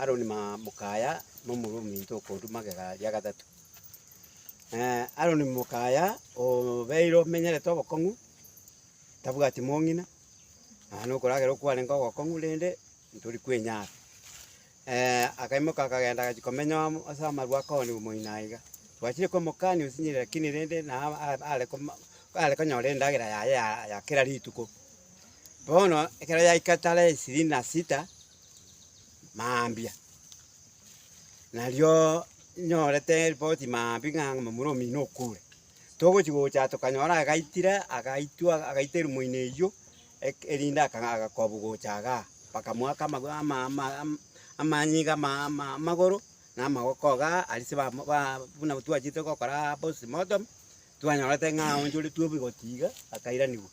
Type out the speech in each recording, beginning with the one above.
Aroni mokaya momura ominto okoruta magega ria gatato. Aroni mokaya obeire omenyerete obokong'u, tabwati mong'ina, nonye na okoragera okwarenge ogokong'u rende ntori kwenyara. akaimoka akagenda agachia komenya amo ase amarwa akoni omoino aiga. Twachire komokania osinyire rakini rende naye are konyora endagera yaye ya kera rituko. Bono ekero yaika tara esiri na sita mambia, narioo nyorete ripoti mambia ng'a momura omino okure. Togochia gocha tokanyora agaitire agaitwa agaita erumoina eywo eke erinde aka agakobu gocha igaa, bakamoaka amago ama ama ama amanyinga iga ama ama amagoro na amagoko igaa arise bamo ba buna twachiete gokoraa postmortem, twanyorete ng'a aonchoretwe oboigoti iga akairanigwa.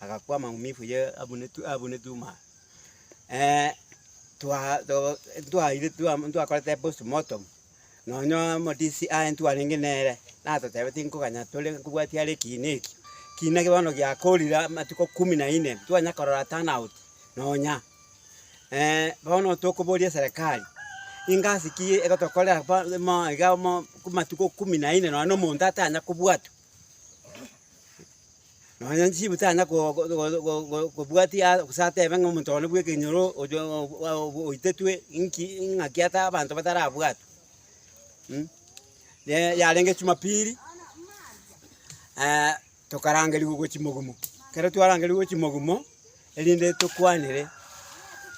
Agakwa amagumifu ye abunetu abunetu ma twa to ntwaire twa ntwakorete postmortem, nonye omodisi aye ntwarenge nere, natotebe tinkoganya tore nkobwatia are ekiina eki, kiina eke bono giakorire amatuko kumi na ine, ntitwanya korora turn out nonya. bono tokoboria eserekari, ingasi ki egotokorera pa mo iga mo amatuko kumi na ine nonye na omonto atanya kobwatwa. Nonya nchibu tanyara go- go- go- go- go- gobwatia aa- gose atebe ng'a omonto one bw'ekenyoro oyo oo- oitetwe inki ing'aki ata abanto batarabwatwe. Ne yarenge chumapiri, tokarangerigwa gochia mogumo, ekero twarangerigwe gochia mogumo. Erinde tokwanere,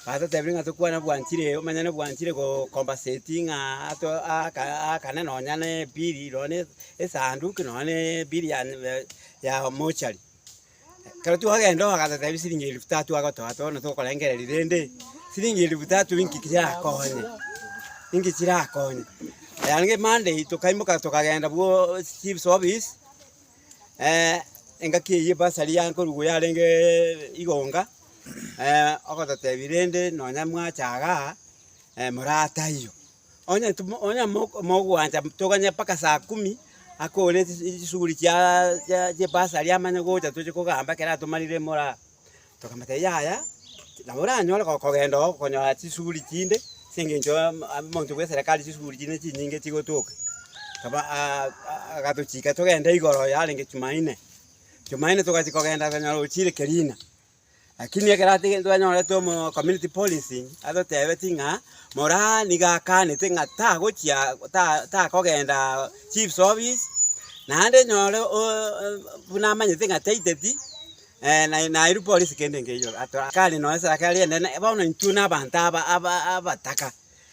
batotebire ng'a tokwane bwanchire ee, omanyene bwanchire go- compensate ng'a ato aaka aakane nonya ne bili nonya ne esanduki nonya ne bili ya nyume ya mochari. Ekero twagenda oo agatotebia siringi elifu tatu agotoa atoe bono tokorengereria rende, siringi elifu tatu inki chirakonye, inki chirakonye. Yaani kera Monday tokaimoka tokagenda bwooo chief's office. Engaki eyio ebasari yankorigwe yarenge igonga, ogototebi rende nonya mwacha iga, moraa taiyo. Onye timo onye mok mogwancha toganye mpaka saa kumi, akore chis chisuguri chiaaa chia chia ebasari amanye gocha tochi kogamba ekero atomarire moraa. Tokamate yaya, nabo oranyore go- kogenda oo konyora chisuguri chinde, ase eng'encho ya mo- a- monto bw'eserekari chisuguri chinde chinyinge chigotoka. Kaba a- a- agatochika togende igoro yarenge Jumaine. Jumaine togachia kogenda konyora ochire Kerina, lakini ekero atige twanyorete omo community policing, atotebetie ng'a moraa niga akanete ng'a tagochia ta- takogendaa chief's office, naende nyore o- o- buna amanyete ng'a taiteti. Ee, na nairu polisi kende nkeiyo ato akare noe sadaka eria enene, bono intwe na abanto aba aba abataka,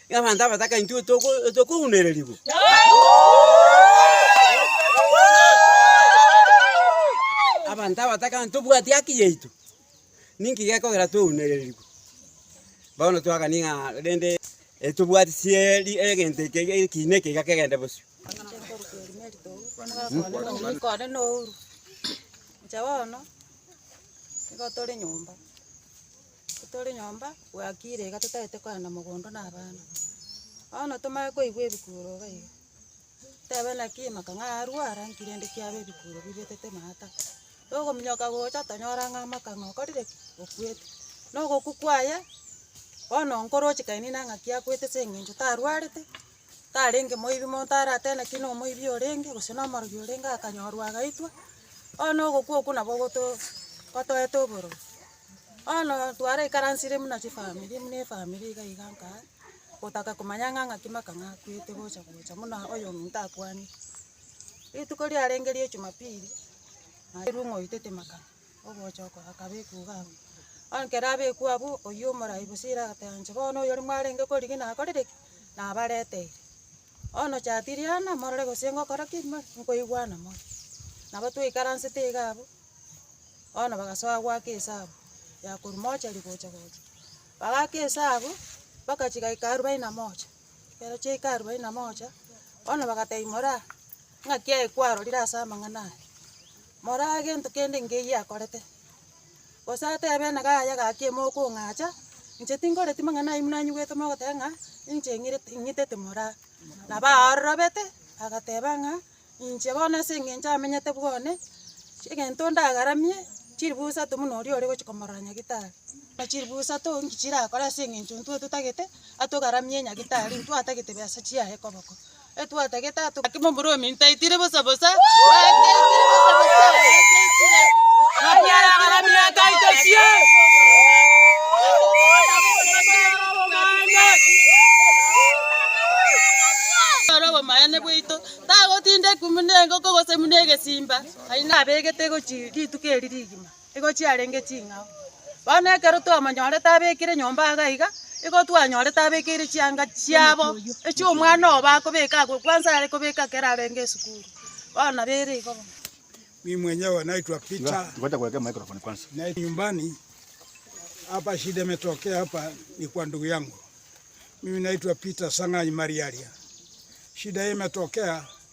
ng'a abanto abataka intwe toko tokounererigwa. Abanto abataka ng'a ntobwati haki yaito, ninki gekogera tweunererigwe? Bono twakanie ng'a rende etobwati chieri egento eke eke ekiina eke iga kegende bosio. Inche bono, nigo tore nyomba, tore nyomba bwakire iga totaete kogenda mogondo na abana. Bono tomanye koigwa ebikuro iga iga, tebe naki maka ng'a arware nki rende kiabe ebikuro bibetete maata. Togominyoka gocha tonyora ng'a maka ng'a okorire ki? Okwete. Na ogokwa kwaye, bono nkoroche kainini nang'aki akwete ase eng'encho tarwarete. tarenge moibi monto aratebe naki nomoibi orenge gose nomorogi orenge akanyorwa agaitwa, bono ogokwa okwo nabo ogoto gotoete obororo. Bono twaraikaransire buna chifamiri buna efamiri iga iga nka gotaka komanya ng'a ng'aki maka ng'akwete gocha gocha buna oyo ominto akwanete. Rituko riarenge ria ejumapili, nairwe ng'oitete maka Ogocha oko akabekwa iga abwo. Bono ekero abekwa abwo, oyio omorai Bosira agateba inche bono oyoria mwarenge korigia nakorire ki? Nabareteire. Bono Chatiliana morore gose ngokora ki? Nkoigwana more. Nabo twaikaransete iga abwo, bono bagasoa goaka esabu ya korwa mochari gocha gocha. Bagaaka esabu, mpaka chigaika arubaini na moja. Ekero chiaika arubaini na moja, bono bagateba imora, ng'aki yaye kwarorire ase amang'ana aya? Moraa gento kende nkeiyo akorete, gose atebe enaga yaye gaki ime okong'acha, inche tinkoreti mang'ana ayio buna anyigwete mogoteba ng'a ninche ng'irete ng'itete moraa. Nabo aororobete agateba ng'a inche bono ase eng'encho amenyete bwane, chi egento ndagaramie chilifu isato buna oria ore gochia komorora nyagetari. Na chilifu isato inki chirakore ase eng'encho intwe totagete atogaramie nyagetari intwe atagete besa chiaye koboko. etwatagete ato gake momoromi ntaitire bosa bosa ateitire bosa bosa ateitire Anyara abarami nataito sie. Oro obomaene bwaito tagotinda ekumi na engoko gose buna egesimba aye nabegete gochia rituko eri rigima Nigo chiarenge ching'ao. Bono ekero twamonyorete abekire nyomba aaga iga, nigo twanyorete abekeire chianga chiabo, echio omwana obo akobeka agwo kwansa are kobeka ekero arenge esukuru. Bono nabo ere igo bono. Mimi mwenyewe naitwa Peter, naenda nyumbani hapa shida imetokea hapa ni kwa ndugu yangu. Mimi naitwa Peter Sang'anyi Mariaria. Shida hii imetokea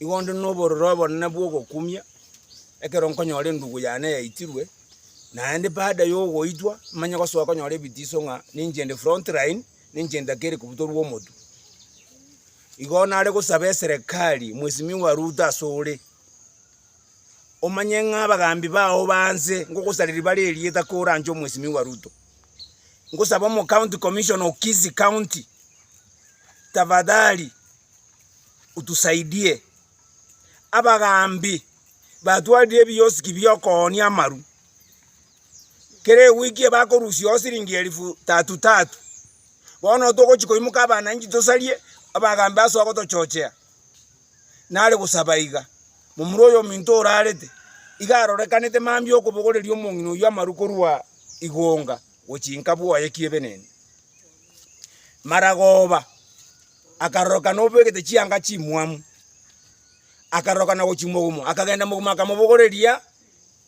Igo onde nobororo obonene bw'ogokumia, ekero nkonyora endugu yane yaitirwe, naende baada yogoitwa, manye gosoa konyora ebitiso ng'a ninche inde front line, ninche ntakeri kobutorwa omotwe. Igo nare gosaba eserekari, Mwesimiwa Ruto ase ore, omanye ng'a abagambi bao banse, ngogosareria bare erieta kore anche Mwesimiwa Ruto. Ngosaba omo county commissioner o Kisii county, tafadhali. otusaidie. Abagaambi batwarire ebiosiki bi'okoonia amaru. Kera ewiki ebakorusiao siringi elifu tatu tatu. Bono togochia koimoka abananchi tosarie, abagaambi basoa gotochochea. Nare gosaba iga, momura oyominto orarete, iga arorekanete mambia okobogoreria omong'ina oyio amaru korwa igonga gochia inka bwoye ki'ebenene. Maragoba. Akarorokana obegete chianga chimwamu, akarorokana gochia mogumo, akagenda mogumo akamobogoreria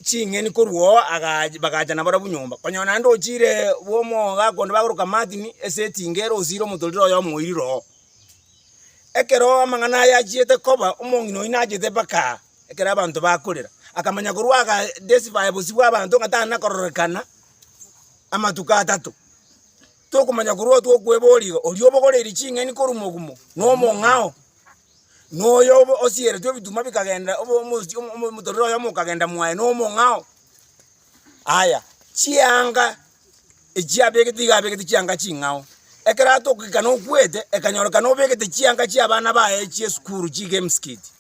ching'eni korwa oo agach- bagacha nabarabwo nyomba, konyora naende ochire bw'omooga konde bagoroka Martin ase etinga ere osiire omotorero oye omoirire oo. Ekero amang'ana aya achiete koba, omong'ina oyio nachete mpaka aa, ekero abanto bakorera, akamanya korwa aga desify bosio bw'abanto ng'a tari na kororekana amatuko atato. Tokomanya korwa otwe okweboria iga, oria obogoreirie ching'eni korwa mogumo nomong'ao, noyo obo osieretwe ebituma bikagenda obo omochi omo omo omotorero oyomo okagenda mwaye nomong'ao. Aya chianga echi abegete iga abegete chianga ching'ao, ekero atokikana okwete ekanyorekana obegete chianga chia abana baye chia esukuru chiga emsikiti,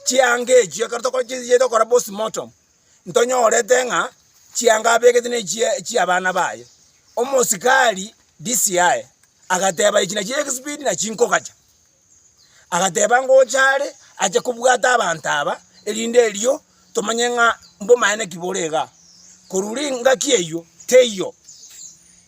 chianga echio ekero tokochinyia tokora postmortem. ntonyorete ng'a chianga abegete nechie chi'abana baye. Omosikari DCI agateba echina chiria egispeed na chinkogacha. Agateba ngocha are ache kobwata abanto aba erinde erio tomanye ng'a mbomaene ki bore igaa. Korwa ringaki eyio teiyo.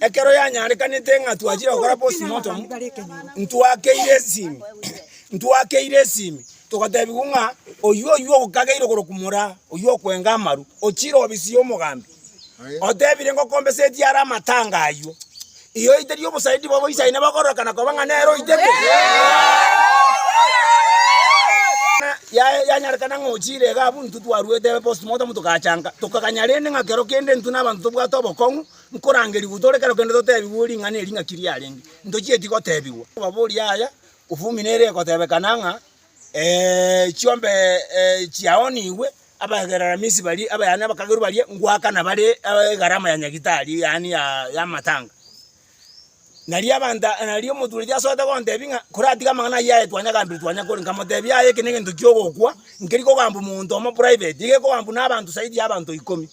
Ekero yanyarekanete ng'a twachire gokora postmortem, ntwakeire esimi, ntwakeire esimi togatebigwa ng'a oyio oyio okageire okorokwa mora oyio okwenga amaru ochire obisiye omogambi otebire ng'a okombesetie are amatanga ayio igo oiterie obosaidi bobo isaine bakororokana koba ng'a nere oitete yaye yanyarekana ng'a ochire iga abwo intwe twarwete postmortem togachanka tokaganya rende ng'a kero kende intwe nabanto tobwate obokong'u. Nkorangerigwe tore kero kende totebigwe ring'ana eri ng'aki riarenge, ntochieti gotebigwa. Obaborie aya, Ofumi nere egotebekana ng'a ee, chiombe chiaonigwe abaegereramisi baria, aba yaani abakagerwa baria ngoakana bare egarama ya nyagitari yaani y'amatanga. Nario abanto, nario omotureti asoete gontebia ng'a koratige amang'ana ayio aye twanyagambire twanyakore, nkamotebia aye ekero negento kiogokwa, nkeri kogambwa omonto omo private, nigo ekogambwa na abanto zaidi ya abanto ikomi.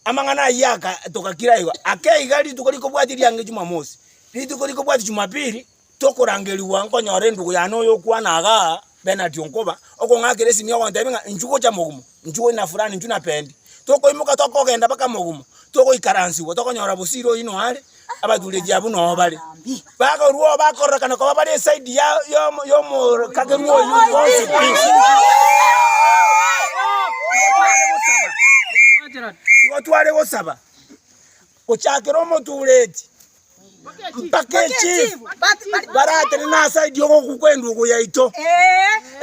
Amang'ana ayio agatoka kera igo, ake iga rituko rikobwatia eriangererio Jumamosi. Rituko rikobwatia Jumapili, tokorangerigwa nkonyora endugu yane oyokwana iga Bernard Onkoba, okong'akera esimi ogontebia ng'a inchuo gocha mogumo, inchuo ina fulani, inchuo napendi. Tokoimoka tokogenda mpaka mogumo, togoikaransigwa, tokonyora bosio ira oyio noare, Abatureti abwo nao bare, bakorua bakororokana koba bare esaidi y'omoikakerwa oyio bonsi pi. Nigo tware gosaba gochakera omotureti mpaka echief baratene nasaidi y'ogoku kw'endugu yaito,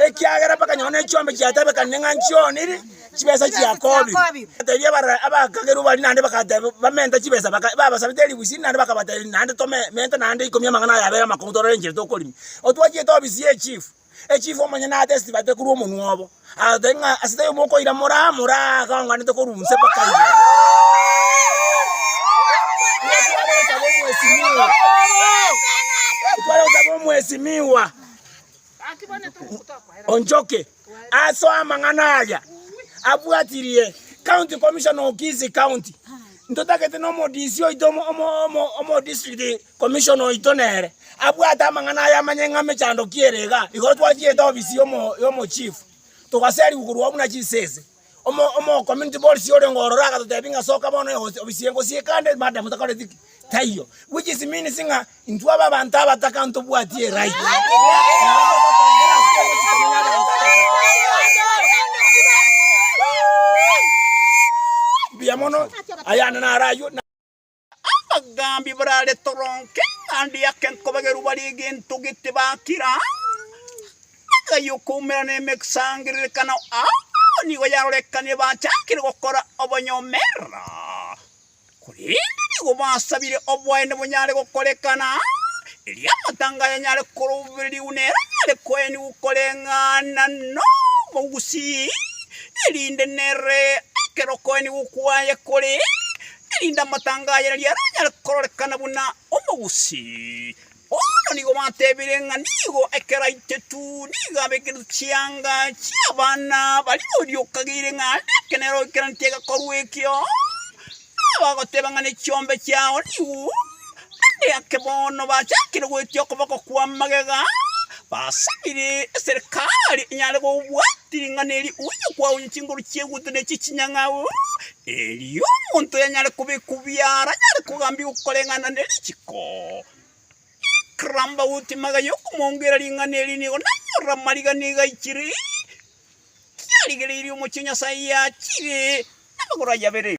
ekiagera mpaka nonye ne echiombe chiatabekana ne ng'a nchioniri. chibesa chia Yakobi. Agatebia barabwo abakagerwa baria naende, bagateba, Bamenta chibesa. Babasabete eribu isini naende bakabatebia, Naende tomenta naende ikomi amang'ana aya abere amakongo tororenchire tokorima. Otwachiete obisirie echifu. Echifu omonye naate esibate korwa omonwa obo, agateba ng'a, Ase taiyo mokoira moraa, moraa aka onganete korwa inse mpaka iga. Otware gotaba Omwesimiwa o nchoki. Ase amang'ana aya abwatirie County Commissioner o Kisii County, ntotagete na omo-DC oito omo-District Commissioner oito nere abwate amang'ana aya amanye ng'a mechando ki ere iga. Igo twatiete obisi y'omo-Chief, togaserigwa korwa oo buna chisese. Omo, omo community boards orenge ororo agatotebia ng'a soka bono egosi obisie engosi eye kande madam takoreti ki? Taiyo. Which is means ng'a intwe abe abanto abataka ntobwati eright. Totongera ase engosi komenya abanto abataka. Mbuya mono, ayande naro aywo. Abagaambi barare toronge, naende ake nkobagerwa bare egento gete bakira, Nagai okoumera nemesangererekano aa nigo yarorekane bachakire gokora obonyomera, korende nigo basabire obwaene bonyare gokorekana, erio amatanga aya nyare korobererigwa nere nyare koenigwa koreng'ana nomogusii, erinde nere ekero okoenigwa kwaye kore. erinde amatanga aye riria aranyare kororekana buna omogusi. Bono nigo batebire ng'a nigo ekero aitetu nigo abekeretwe chianga chi'abana baria boria okageire ng'a ande ekenero oikeraneti egekorwa ekio, na abagoteba ng'a nechiombe chiao nigo Naende eke bono bachakire goetia okoboko kw'amagega, basabire eserekari enyare gobwati ring'ana eri onye kwaonye chinguru chi'egutwa ne chi'chinyang'au, erio omonto oyo anyare kobekwa buya aranyare kogambigwa okoreng'ana ne richiko. Ekerambauti magega y'okomoongera ring'ana eri nigo nanyorire amarigani iga ichire, kiarigereirie omochie o Nyasae yachiire namagoro aye abere.